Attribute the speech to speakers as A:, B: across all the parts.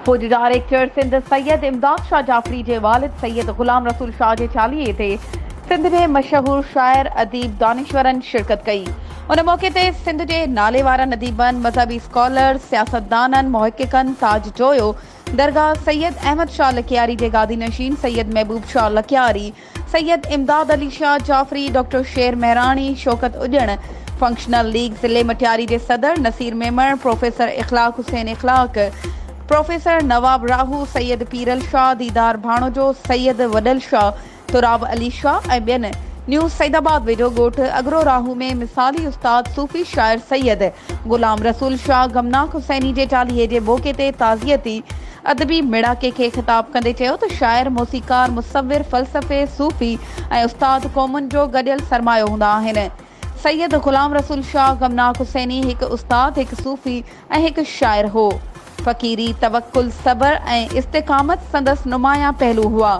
A: فوجي ڊائريڪٽر سنڌ سيد امداد شاهه جعفري جي والد سيد غلام رسول شاهه جي چاليهي تي سنڌ جي مشهور شاعر، اديب، دانشورن شرڪت ڪئي. ان موقعي تي سنڌ جي ناليوارن اديبن، مذهبي اسڪالرز، سياستدانن، محققن ساجھ جويو درگاهه سيد احمد شاهه لڪياري جي گادي نشين سيد محبوب شاهه لڪياري، سيد امداد علي شاهه جعفري، ڊاڪٽر شير مهراڻي، شوڪت اڄڻ، فنڪشنل ليگ ضلعي مٽياري جي صدر نصير ميمڻ، پروفيسر اخلاق حسين اخلاق، پروفيسر نواب راهو، سيد پيرل شاهه، ديدار ڀاڻوجو، سيد وڏل شاهه، سهراب علي شاهه ۽ ٻين. نيوز سعيد آباد ويجهو ڳوٺ اگرو راهو ۾ مثالي استاد صوفي شاعر سيد غلام رسول شاهه غمناڪ حسيني جي چاليهي جي موقعي تي تعزيتي ادبي ميڙاڪي کي خطاب ڪندي چيو ته شاعر، موسيقار، مصور، فلسفي، صوفي ۽ استاد قومن جو گڏيل سرمايو هوندا آهن. سيد غلام رسول شاهه غمناڪ حسيني هڪ استاد، هڪ صوفي ۽ هڪ شاعر هو. فقيري، توڪل، صبر ۽ استقامت سندس نمايان پهلو هئا.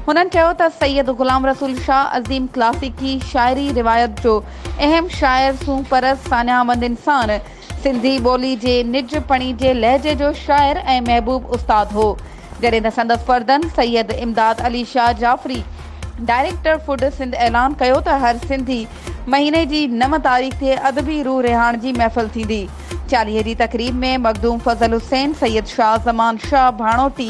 A: هنن چيو ته سيد غلام رسول شاهه عظيم ڪلاسيڪي شاعري روايت جو اهم شاعر، سونهن پرست، ساڃاهه مند انسان، سنڌي ٻولي جي نج پڻي جي لهجي جو شاعر ۽ محبوب استاد هو. جڏهن ته سندس پردن سيد امداد علي شاهه جعفري ڊائريڪٽر فوڊ سنڌ اعلان ڪيو ته هر سنڌي مهيني جي نو تاريخ تي ادبي روح رهاڻ جي محفل ٿيندي. چاليهي جي تقريب ۾ مخدوم فضل حسين، سيد شاهه زمان شاهه ڀاڻوتي،